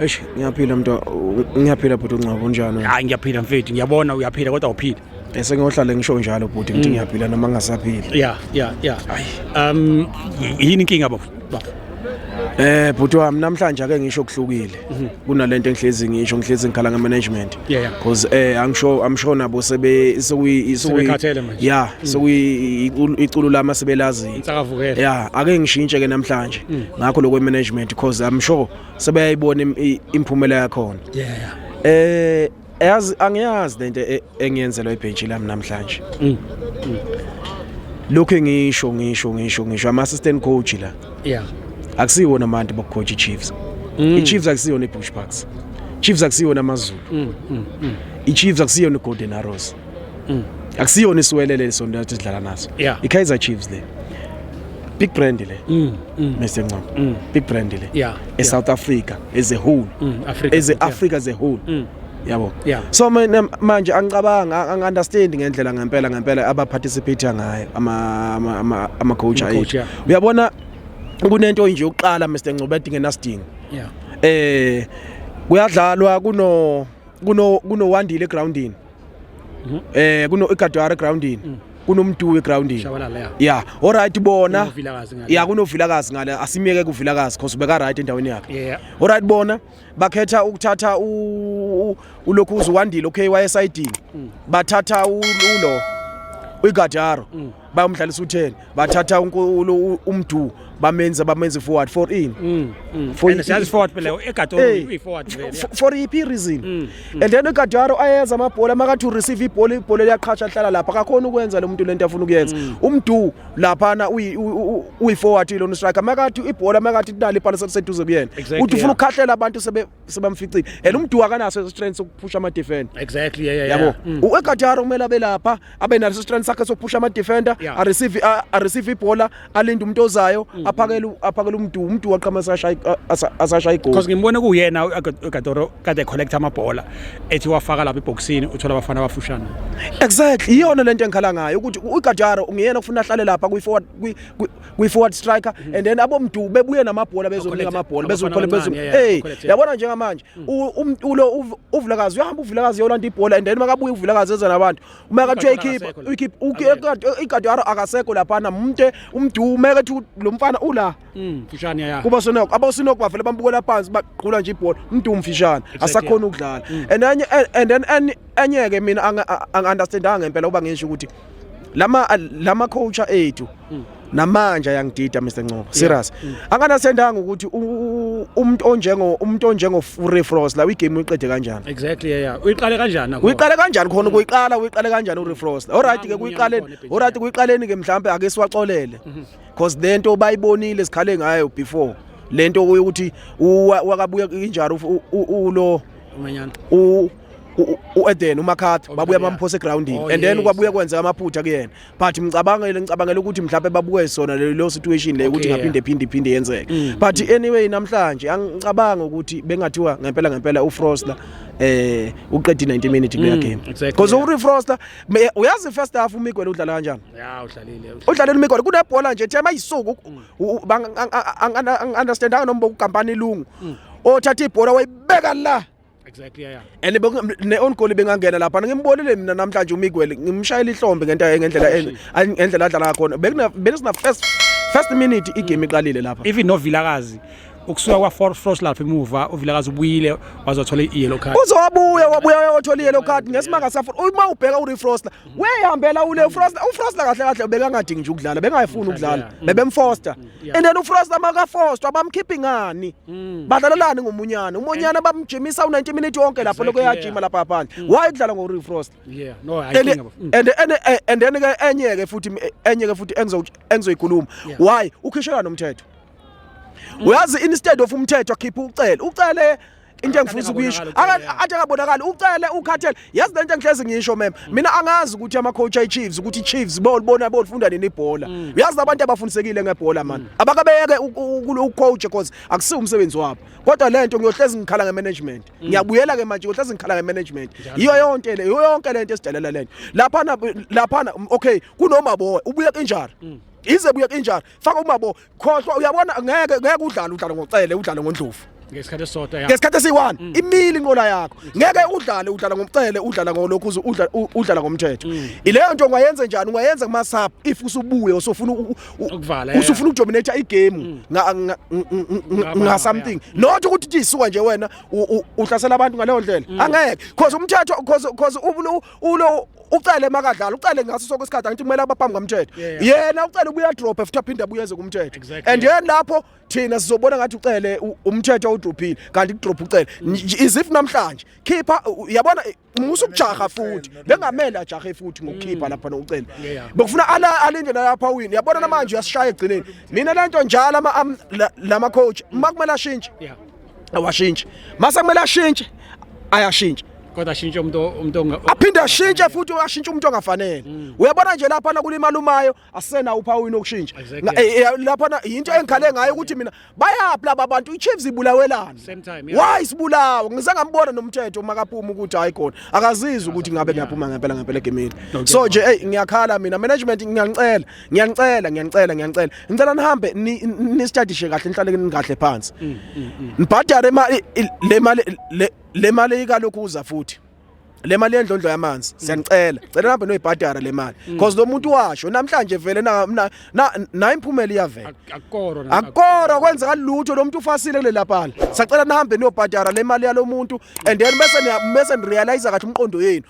Eish ngiyaphila mntu ngiyaphila bhuti uNgcobo unjani? Hayi ngiyaphila mfethu ngiyabona uyaphila kodwa uphila. Bese ngiyohlale ngisho njalo bhuti ngithi ngiyaphila noma ngingasaphili. Yeah yeah yeah. Um yini inkinga baba? Baba. Eh bhuti wami namhlanje ake ngisho kuhlukile kunalento engihlezi ngisho ngihlezi ngikhala ngemanagement. yeah yeah because eh i'm sure i'm sure nabo sebe sokuyi sebekhathele manje yeah mm. sokuyi iculo lama sebelazi insakavukela yeah ake ngishintshe ke namhlanje mm. ngakho lokwe management because i'm sure sebeyayibona imphumela yakho yeah yeah eh yazi angiyazi lento e, engiyenzelwa ibhenji lami namhlanje mm. lokho ngisho ngisho ngisho ngisho ama assistant coach la yeah akusiwona amantu bokucoach iChiefs mm. iChiefs akusiyona iBush Parks Chiefs akusiyona amaZulu mm, mm, mm. iChiefs akusiyona iGolden Arrows mm. akusiyona isiwelele lesonto lathi sidlala naso yeah. iKaizer Chiefs le big brand le mm, mm. Mr Ncamo mm. big brand le yeah, eSouth yeah. Africa as a whole mm, Africa, as a Africa yeah. as a whole mm. yabo yeah. so mina manje angicabanga ang understand ngendlela ngempela ngempela aba participate ngayo ama ama ama coach ayethu uyabona kunento nje yokuqala Mr Ngcobe edingenasidingo yeah eh kuyadlalwa kuno kuno kunowandile egroundini mhm. eh kuno igadwara egroundini mm. kunomduwe egroundini ya all right bona ya kunovilakazi ngale asimyeke kuvilakazi cause ubeka right endaweni yakhe all right bona bakhetha ukuthatha ulokhu uziwandile okay wayesidini mm. bathatha ulo uyigadaro mm. bayomdlalisa u-10 bathatha umdu bamenza bamenza forward for in mm, mm. for siyazi forward phela egadoro uyi-forward for iphi i-reason mm, and then egadaro ayenza amabhola makathi ureceive ibhola ibhola liyaqhatsha hlala lapha akakhona ukwenza lo muntu lento afuna ukuyenza umdu laphana uyi-forward lona striker makathi ibhola makathi kunali ipana seduze kuyena uthi ufuna ukukhahlela abantu sebe sebamficile and umduwa kanaso strength sokuphusha ama defender exactly yeah yeah yabo mm. uEgataro kumele abe lapha abe naso strength sakhe sokuphusha ama defender a receive a receive ibhola alinde umuntu ozayo mm. aphakele aphakele umduwa umduwa qhama sashaya asashaya igoli because ngimbone kuyena uEgataro kade collect ama bhola ethi wafaka lapha eboxini uthola abafana abafushana exactly iyona lento engikhala ngayo ukuthi uEgataro ungiyena ufuna ahlale lapha kwi forward kwi-forward striker mm -hmm. and then abomdu bebuye namabhola bezomnika amabhola bezokhole bezom hey yabona njengamanje mm. um, ulo uvulakazi uyahamba uvulakazi yolanda ibhola and then makabuye uvulakazi eza nabantu uma kathi uyayikhipha uyikhipha ikade akasekho laphana mnte umdu uma kathi lo mfana ula mm, mfishane ya kuba sonoko abasinoko bavele bambukela phansi baqhula nje ibhola umdu mfishane asakhona ukudlala mm. and enye and then enye ke mina angi understandanga ngempela uba ngisho ukuthi lama lama coach ethu mm. namanje ayangidida Mr Ncobo serious mm. anganasendanga ukuthi umuntu onjengo umuntu onjengo Free Frost la igame uyiqede kanjani exactly yeah uyiqale kanjani nakho uyiqale kanjani khona mm. kuyiqala uyiqale kanjani uFree Frost alright ke kuyiqaleni alright kuyiqaleni ke mhlambe ake siwaxolele mm-hmm. because lento bayibonile sikhale ngayo before lento ukuthi wakabuya injalo ulo umanyana u u-Eden uMakhathi oh, babuya bamphosa egroundini oh, and then kwabuye kwenzeka amaphutha kuyena but ngicabangele ngicabangela ukuthi mhlawumbe babuke sona leyo situation leyo ukuthi ngaphinde phinde iphinde yenzeke mm. but anyway namhlanje angicabanga ukuthi bengathiwa ngempela ngempela uFroster eh uqedi 90 minutes kule mm, game because uRi Froster uyazi first half uMiguel udlala kanjani yeah udlalile udlalile uMiguel kunebhola nje thema isuku mm. angiunderstandanga noma ukukampani ilungu othatha ibhola wayibeka la Exactly yeah. And ne on goal bengangena lapha ngimbonile mina namhlanje uMiguel ngimshayela ihlombe ngento ngendlela ngendlela adlala ngakhona bekuna bekusina first first minute igame iqalile lapha. Even no Vilakazi ukusuka kwa Fort Frost lapha emuva uVilakazi ubuyile wazothola i-yellow card uzowabuya wabuya wayothola i-yellow card ngesimanga safuna uma ubheka uRefroster weyihambela ule ufrost ufrost kahle kahle bekangadingi nje ukudlala bengayifuni ukudlala bebemfoster and then ufrost amakafoster abamkhiphi ngani badlalelani ngomunyana umunyana bamjimisa u90 minutes wonke lapho lokho yajima lapha phandle why ukudlala ngo refrost yeah no i think and and and then ke enye ke futhi enye ke futhi engizo engizoyikhuluma why ukhishelana nomthetho uyazi instead of umthetho akhipha ucele ucele into engifisa ukuyisho athi akabonakali ucele ukhathele yazi lento engihlezi ngisho mem mm. mina angazi ukuthi ama coach ay Chiefs ukuthi Chiefs bolibona bolifunda nini ibhola mm. uyazi abantu abafundisekile ngebhola man mm. abakabeke ucoach because akusi umsebenzi wabo kodwa lento ngiyohlezi ngikhala nge management ngiyabuyela ke manje ngiyohlezi ngikhala nge management iyo yonke le iyo yonke lento esidelela lento lapha lapha okay kunoma boy ubuye kanjani ize buye kanjani faka umabo khohlwa uyabona ngeke ngeke udlale udlale ngocele udlale ngondlovu ngesikhathi esisodwa ngesikhathi esiyi-one mm. imile inqola yakho ngeke udlale udlala ngomcele udlala ngolokhu udlala ngomthetho mm. ileyo nto ungayenze njani ungayenza kuma-sub if usubuye usufuna usufuna ukudominata igame mm. ngasomething not ukuthi tisuka nje wena uhlasela abantu ngaleyo ndlela angeke cause umthetho cause ucele makadlala ucele ngaso sonke isikhathi angithi kumele abaphambi kamthetho yena ucele ubuya drop futhi aphinde abuyeze kumthetho and yena lapho thina sizobona ngathi ucele umthetho udrophile kanti kudrop ucele mm. is if namhlanje khipha yabona musa ukujaha futhi bengamele ajahe futhi ngokukhipha mm. lapha nokucela bekufuna ala alinde lapha wini yabona namanje uyasishaya egcineni mina lento njalo ama lama coach makumele ashintshe awashintshi mase kumele ashintshe ayashintsha kodwa ashintshe umuntu umuntu aphinde ashintshe futhi ashintshe umuntu ongafanele mm. uyabona nje lapha na kulimala umayo asena uphawu inokushintsha eh, eh, lapha na into engikhale ngayo ukuthi mina bayaphi laba bantu iChiefs ibulawelana why sibulawa ngize ngambona nomthetho makapuma ukuthi hayi khona akazizi ukuthi ngabe ngiyaphuma ngempela ngempela egemini so nje hey ngiyakhala mina management ngiyanicela ngiyanicela ngiyanicela ngiyanicela ngicela nihambe nisitadishe kahle nihlale kahle phansi mm, mm, mm. nibhadare le mali le mali ikalokhuza futhi le mali yendlondlo yamanzi siyanicela cela nihambe noyibhadara le mali because lo muntu washo namhlanje vele nayo imphumela iyavela akukoro kwenzeka lutho lo muntu ufasile kulela pala sacela nihambe niyobhadara le mali yalo muntu and then bese bese nirealize kathi umqondo yenu